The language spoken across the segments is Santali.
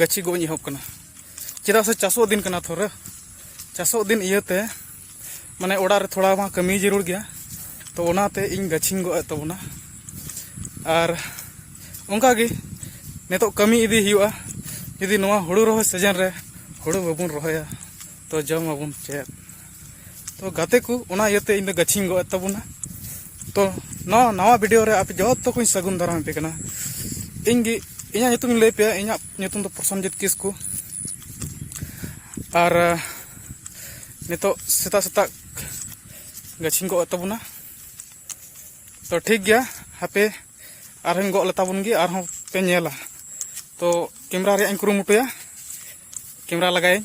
ᱜᱟᱹᱪᱷᱤ ᱜᱚᱡ ᱮᱦᱚᱵ ᱠᱟᱱᱟ ᱪᱮᱫᱟᱜ ᱥᱮ ᱪᱟᱥᱚᱜ ᱫᱤᱱ ᱠᱟᱱᱟ ᱛᱷᱚᱨ ᱪᱟᱥᱚᱜ ᱫᱤᱱ ᱤᱭᱟᱹᱛᱮ ᱢᱟᱱᱮ ᱚᱲᱟᱜ ᱨᱮ ᱛᱷᱚᱲᱟ ᱢᱟ ᱠᱟᱹᱢᱤ ᱡᱟᱹᱨᱩᱲ ᱜᱮᱭᱟ ᱛᱚ ᱚᱱᱟᱛᱮ ᱤᱧ ᱜᱟᱹᱪᱷᱤᱧ ᱜᱚᱜ ᱮᱫ ᱛᱟᱵᱚᱱᱟ ᱟᱨ ᱚᱱᱠᱟᱜᱮ ᱱᱤᱛᱚᱜ ᱠᱟᱹᱢᱤ ᱤᱫᱤ ᱦᱩᱭᱩᱜᱼᱟ ᱡᱩᱫᱤ ᱱᱚᱣᱟ ᱦᱩᱲᱩ ᱨᱚᱦᱚᱭ ᱥᱤᱡᱮᱱ ᱨᱮ ᱦᱩᱲᱩ ᱵᱟᱵᱚᱱ ᱨᱚᱦᱚᱭᱟ ᱛᱚ ᱡᱚᱢ ᱟᱵᱚᱱ ᱪᱮᱫ ᱛᱚ ᱜᱟᱛᱮ ᱠᱚ ᱚᱱᱟ ᱤᱭᱟᱹᱛᱮ ᱤᱧ ᱫᱚ ᱜᱟᱹᱪᱷᱤᱧ ᱜᱚᱜ ᱛᱟᱵᱚᱱᱟ ᱛᱚ ᱱᱚᱣᱟ ᱱᱟᱣᱟ ᱵᱷᱤᱰᱤᱭᱳ ᱨᱮ ᱟᱯᱮ ᱡᱚᱛᱚ ᱠᱚᱧ ᱥᱟᱹᱜᱩᱱ ᱫᱟᱨᱟᱢ ᱟᱯᱮ ᱠᱟᱱᱟ ᱤᱧ ᱜᱮ ᱤᱧᱟᱹᱜ ᱧᱩᱛᱩᱢᱤᱧ ᱞᱟᱹᱭ ᱯᱮᱭᱟ ᱤᱧᱟᱹᱜ ᱧᱩᱛᱩᱢ ᱫᱚ ᱯᱨᱚᱥᱚᱱᱡᱤᱛ ᱠᱤᱥᱠᱩ ᱟᱨ ᱱᱤᱛᱚᱜ ᱥᱮᱛᱟᱜ ᱥᱮᱛᱟᱜ ᱜᱟᱹᱪᱷᱤᱧ ᱜᱚᱜ ᱛᱟᱵᱚᱱᱟ ᱛᱚ ᱴᱷᱤᱠ ᱜᱮᱭᱟ ᱦᱟᱯᱮ ᱟᱨᱦᱚᱸᱧ ᱜᱚᱜ ᱞᱮᱛᱟᱵᱚᱱ ᱜᱮ ᱟᱨᱦᱚᱸ ᱯᱮ ᱧᱮᱞᱟ ᱛᱚ ᱠᱮᱢᱨᱟ ᱨᱮᱭᱟᱜ ᱤᱧ ᱠᱩᱨᱩᱢᱩᱴᱩᱭᱟ ᱠᱮᱢᱨᱟ ᱞᱟᱜᱟᱭᱟᱹᱧ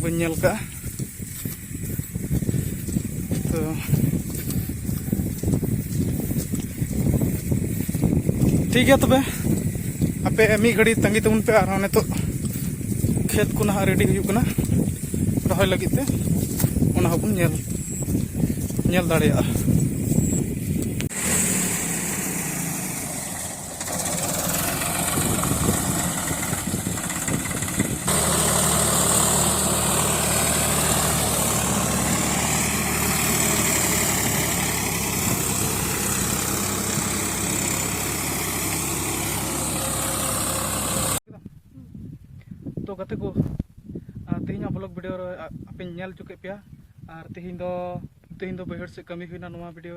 ᱵᱟᱹᱧ ᱧᱮᱞ ᱠᱟᱜᱼᱟ ᱛᱚ ᱴᱷᱤᱠ ᱜᱮᱭᱟ ᱛᱚᱵᱮ ᱟᱯᱮ ᱢᱤᱫ ᱜᱷᱟᱹᱲᱤ ᱛᱟᱺᱜᱤ ᱛᱟᱵᱚᱱ ᱯᱮ ᱟᱨᱦᱚᱸ ᱱᱤᱛᱚᱜ ᱠᱷᱮᱛ ᱠᱚ ᱱᱟᱦᱟᱜ ᱨᱮᱰᱤ ᱦᱩᱭᱩᱜ ᱠᱟᱱᱟ ᱨᱚᱦᱚᱭ ᱞᱟᱹᱜᱤᱫ ᱛᱮ ᱚᱱᱟ ᱦᱚᱸᱵᱚᱱ ᱧᱮᱞ ᱧᱮᱞ ᱫᱟᱲᱮᱭᱟᱜᱼᱟ ᱛᱚ ᱜᱟᱛᱮ ᱠᱚ ᱛᱮᱦᱮᱧᱟᱜ ᱵᱞᱚᱜ ᱵᱷᱤᱰᱤᱭᱳ ᱨᱮ ᱟᱯᱮᱧ ᱧᱮᱞ ᱦᱚᱪᱚ ᱠᱮᱫ ᱯᱮᱭᱟ ᱟᱨ ᱛᱮᱦᱮᱧ ᱫᱚ ᱛᱮᱦᱮᱧ ᱫᱚ ᱵᱟᱹᱭᱦᱟᱹᱲ ᱥᱮᱫ ᱠᱟᱹᱢᱤ ᱦᱩᱭᱱᱟ ᱱᱚᱣᱟ ᱵᱷᱤᱰᱤᱭᱳ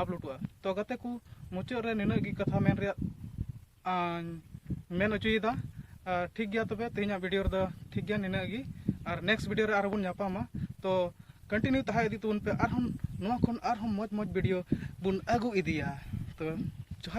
ᱟᱯᱞᱳᱰᱚᱜᱼᱟ ᱛᱚ ᱜᱟᱛᱮ ᱠᱚ ᱢᱩᱪᱟᱹᱫ ᱨᱮ ᱱᱤᱱᱟᱹᱜ ᱜᱮ ᱠᱟᱛᱷᱟ ᱢᱮᱱ ᱨᱮᱭᱟᱜ ᱢᱮᱱ ᱚᱪᱚᱭᱮᱫᱟ ᱴᱷᱤᱠ ᱜᱮᱭᱟ ᱛᱚᱵᱮ ᱛᱮᱦᱮᱧᱟᱜ ᱵᱷᱤᱰᱤᱭᱳ ᱨᱮᱫᱚ ᱴᱷᱤᱠ ᱜᱮᱭᱟ ᱱᱤᱱᱟᱹᱜ ᱜᱮ ᱟᱨ ᱱᱮᱠᱥᱴ ᱵᱷᱤᱰᱤᱭᱳ ᱨᱮ ᱟᱨᱦᱚᱸ ᱵᱚᱱ ᱧᱟᱯᱟᱢᱟ ᱛᱚ ᱠᱚᱱᱴᱤᱱᱤᱭᱩ ᱛᱟᱦᱮᱸ ᱤᱫᱤ ᱛᱟᱵᱚᱱ ᱯᱮ ᱟᱨᱦᱚᱸ ᱱᱚᱣᱟ ᱠᱷᱚᱱ ᱟᱨᱦᱚᱸ ᱢᱚᱡᱽ ᱢᱚᱡᱽ ᱵᱷᱤᱰᱤᱭᱳ ᱵᱚᱱ ᱟᱹᱜᱩ ᱤᱫᱤᱭᱟ ᱛᱚ ᱡᱚᱦᱟᱨ